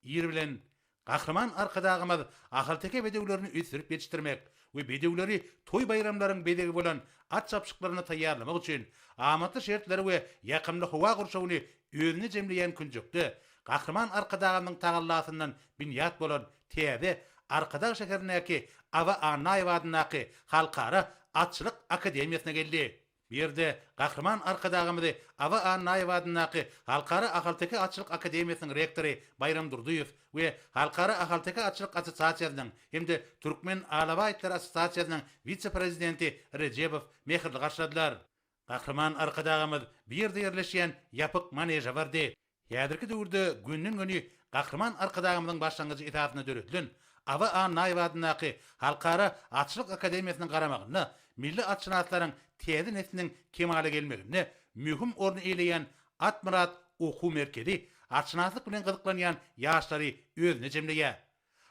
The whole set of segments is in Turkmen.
Ir bilen Gahryman Arkadagymyz ahalteke bedewlerini ösdürip ýetişdirmek we bedewleri toý-baýramlaryň bezegi bolan at çapyşyklaryna taýýarlamak üçin amatly şertleri we ýakymly howa gurşawyny özünde jemleýän künjekde Gahryman Arkadagymyzyň tagallasyndan binýat bolan täze Arkadag şäherindäki Awa Annaýewa adyndaky Halkara atçylyk akademiýasyna geldi. Bu ýerde Gahryman Arkadagymyzy Aba Annaýewa adyndaky Halkara ahalteke atçylyk akademiýasynyň rektory Baýram Durdyýew we Halkara ahalteke atçylyk assosiasiýasynyň hem-de Türkmen alawa itleri assosiasiýasynyň wise-prezidenti Rejebow mähirli garşyladylar. Gahryman Arkadagymyz bu ýerde ýerleşýän ýapyk maneža bardy. Häzirki döwürde günden-güni Gahryman Arkadagymyzyň başlangyjy esasynda döredilen Aba Annaýew adyndaky Halkara atçylyk akademiýasynyň garamagynda milli atşynaslaryň täze nesliniň kemala gelmeginde möhüm orny eýleýän Atmyrat okuw merkezi atşynaslyk bilen gyzyklanýan ýaşlary özüne jemleýär.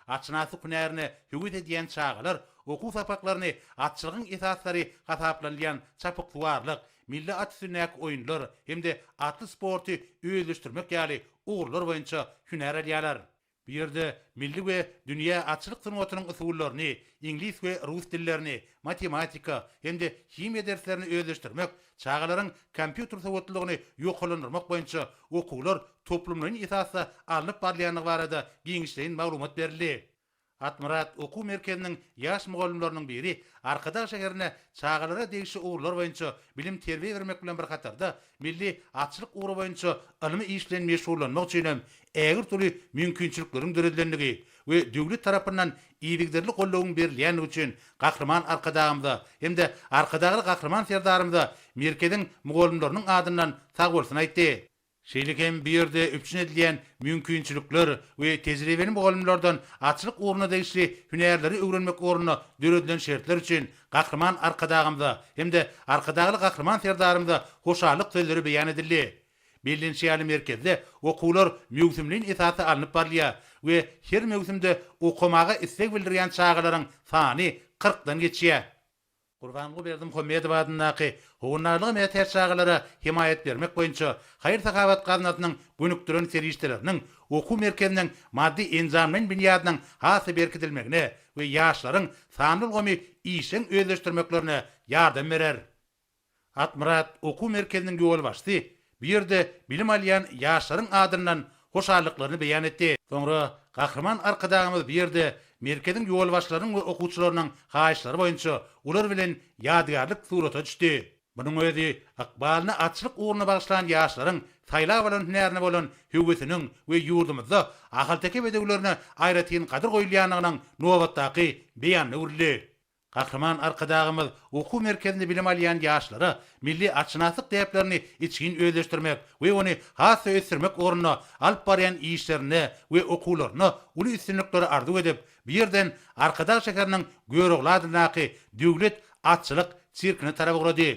Atşynasyk hünärine höwes edýän çagalar okuw sapaklaryny atçylygyň esaslary hasaplanylýan çapyksuwarlyk, milli at üstündäki oýunlar hem-de atly sporty özleşdirmek ýaly ugurlar boýunça hünär alýarlar. Bu ýerde milli we dünýä atçylyk sungatynyň usullaryny, iňlis we rus dillerini, matematika hem-de himiýa derslerini özleşdirmek Çagalaryň kompýuter sowatlylygyny ýokarlandyrmak boýunça okuwlar toplumlaýyn esasda alnyp barylýandygy barada giňişleýin maglumat berildi. Atmyrat okuw merkeziniň ýaş mugallymlarynyň biri Arkadag şäherine çagalara degişli ugurlar boýunça bilim-terbiýe bermek bilen bir hatarda, milli atçylyk ugry boýunça ylmy iş bilen meşgullanmak üçin hem ägirt uly mümkinçilikleriň döredilendigi, we döwlet tarapyndan yzygiderli goldawyň berilýändigi üçin Gahryman Arkadagymyza hem-de Arkadagly Gahryman Serdarymyza merkeziň mugallymlarynyň adyndan sagbolsun aýtdy. Şeýle hem bu ýerde üpjün edilýän mümkinçilikler we tejribeli mugallymlardan atçylyk ugruna degişli hünärleri öwrenmek ugrunda döredilen şertler üçin Gahryman Arkadagymyza hem-de Arkadagly Gahryman Serdarymyza hoşallyk sözleri beýan edildi. Bellenişi ýaly merkezde okuwlar möwsümleýin esasda alnyp barylýar we her möwsümde okamaga isleg bildirýän çagalaryň sany kyrkdan geçýär. Gurbanguly Berdimuhamedow adyndaky Howandarlyga mätäç çagalara hemaýat bermek boýunça haýyr-sahawat gaznasynyň gönükdiren serişdeleriniň okuw merkeziniň maddy-enjamlaýyn binýadynyň has-da berkidilmegine we ýaşlaryň sanly ulgamy işjeň özleşdirmeklerine ýardam berer. Akmyrat okuw merkeziniň ýolbaşçysy bu ýerde bilim alýan ýaşlaryň adyndan hoşallyklaryny beýan etdi. Soňra Gahryman Arkadagymyz bu ýerde merkeziň ýolbaşçylarynyň we okuwçylarynyň haýyşlary boýunça olar bilen ýadygärlik surata düşdi. Munuň özi ykbalyny atçylyk ugruna bagyşlan ýaşlaryň saýlap alan hünärine bolan höwesiniň we ýurdumyzda ahalteke bedewlerine aýratyn gadyr goýulýandygynyň nobatdaky beýanyna öwrüldi. Gahryman Arkadagymyz okuw merkezinde bilim alýan ýaşlara milli atşynaslyk däplerini içgin özleşdirmek we ony has-da ösdürmek ugrunda alyp barýan işlerinde we okuwlarynda uly üstünlikleri arzuw edip, bu ýerden Arkadag şäheriniň Görogly adyndaky Döwlet atçylyk sirkine tarap ugrady.